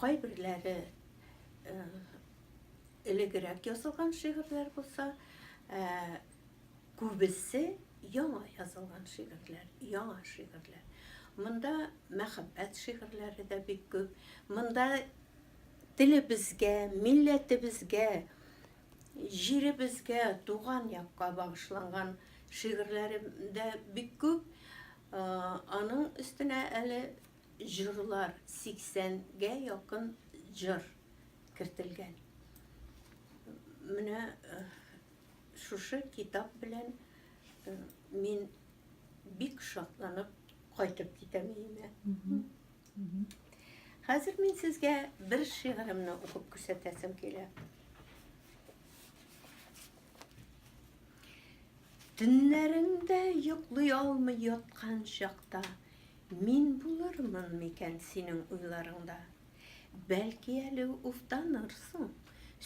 Кайберләре элегрәк язылган шигырьләр булса, күбесе яңа язылган шигырьләр, яңа шигырьләр. Монда мәхәббәт шигырьләре дә бик күп. Монда телебезгә, милләтебезгә, җиребезгә, туган якка багышланган шигырьләре дә бик күп. Аның өстенә әле җырлар, 80 гә якын җыр кертелгән. Менә шушы китап белән мин бик шатланып кайтып китәм өемә. Хәзер мин сезгә бер шигыремне укып күрсәтәсем килә. Төннәрендә йоклый алмый яткан чакта Мин булырмын микән синең уйларыңда? Бәлки әле уфтанырсың,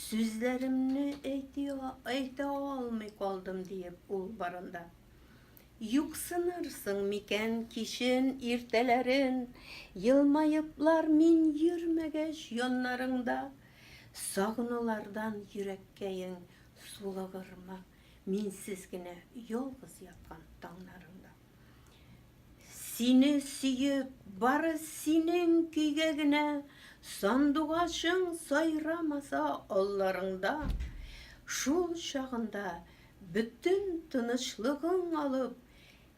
Сүзләремне әйти әйтә алмый калдым диеп ул барында. Юксынырсың микән кичен, иртәләрен, Елмаеплар мин йөрмәгәч яннарыңда? Сагынулардан йөрәккәең сулыгырмы? Минсез генә ялгыз яткан таңнарыңда. Сине сөеп, бары синең көйгә генә, Сандугачың сайрамаса алларыңда. Шул чагында бөтен тынычлыгың алып,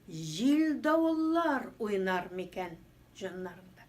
Җил-давыллар уйнар микән җаннарыңда?